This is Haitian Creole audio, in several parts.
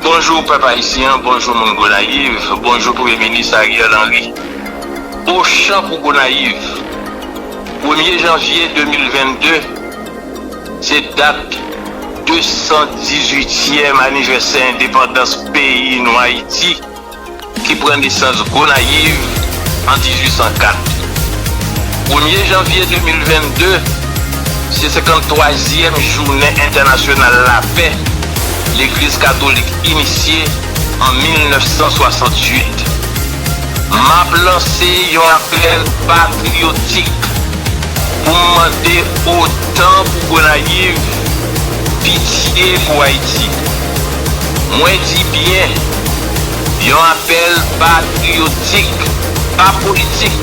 Bonjou pèp ayisyen bonjou moun gonayiv bonjou premye minis Ariel Henry ochan pou gonayiv premye janvye 2022 se dat 218 tièm anivèsè endepandans peyi nou ayiti. ki pran nesans Gonayiv an 1804. Premye janvye 2022 se 53 zyèm jounen entènasyonal lapè legliz katolik inisye an 1968. Map lanse yon apèl patriyotik pou m mande otan pou Gonayiv, pitye pou Ayiti. Mwen di byen, yon apèl patriyotik, pa politik.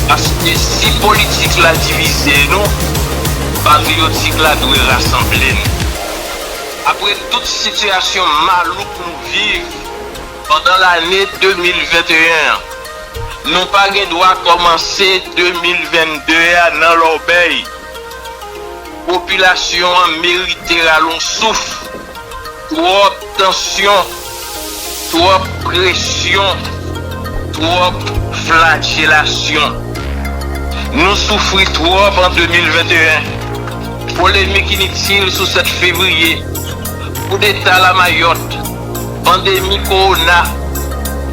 Paske si politik la divize nou, patriyotik la dwe rasanble n. Apre tout sitiyasyon malouk nou viv pandan lane 2021 an, nou pa gen dwa kòmanse 2022 a nan lòbèy. Popilasyon an merite rale yon souf, twòp tansyon, twòp presyon, twòp flajelasyon. Nou soufri twòp an 2021, polemik initil sou 7 fevriye, koudeta lamayòt. Pandemi kowona,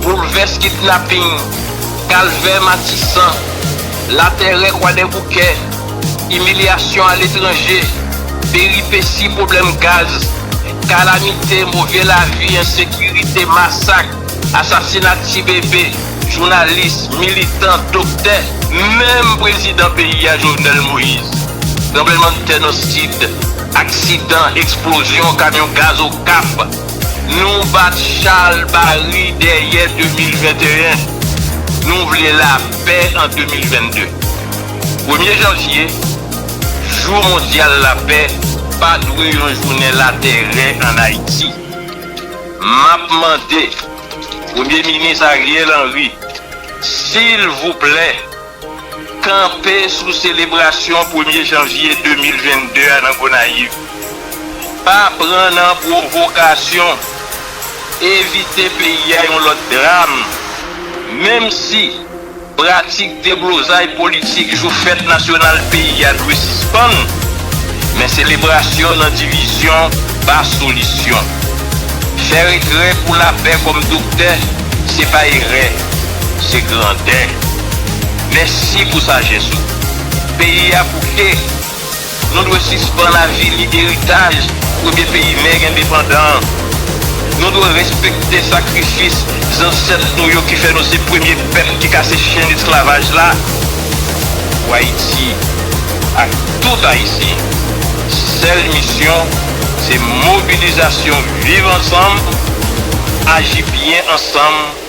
boulvès kidnaping, kalvè Matisan, latèrè Kwadèboukè, imilyasyon aletranje, peripesi pwoblèm gaz, kalamite, move lavi, ensekirite, masak, asasina ti bebe, jounalis, militan, doktè, menm prezidan peyi a Jovenel Moïse, tranblemanntè nan Sid, Aksidan eksplozyon kamyon gaz Okap, Nou bat chal bari dèyè 2021, Nou vle lapè an 2022 Premye janvye, Jou mondyal lapè pa dwe yon jounen latèrè an Ayiti M ap mande Premye minis Ariel Henry, silvouplè, Kanpe sou selebrasyon premye janvye 2022 a nan Gonayiv. Pa pran nan pwovokasyon. Evite peye yon lòt dram. Menm si pratik deblozay politik jou fèt nasyonal peyi a dwe sispann, men selebrasyon nan divizyon pa solisyon. Fè retrè pou lapè kòm doktè, se pa erè. se grandè mèsi pou sajès ou peyi a bouke nou dwe sispann avili eritaj premye peyi nèg endepandan an nou dwe respekte sakrifis zansèt nou yo ki fè nou se premye pèp ki kase chenn esklavaj la pou ayiti ak tout ayisyen sèl misyon se mobilizasyon viv ansanm aji byen ansanm.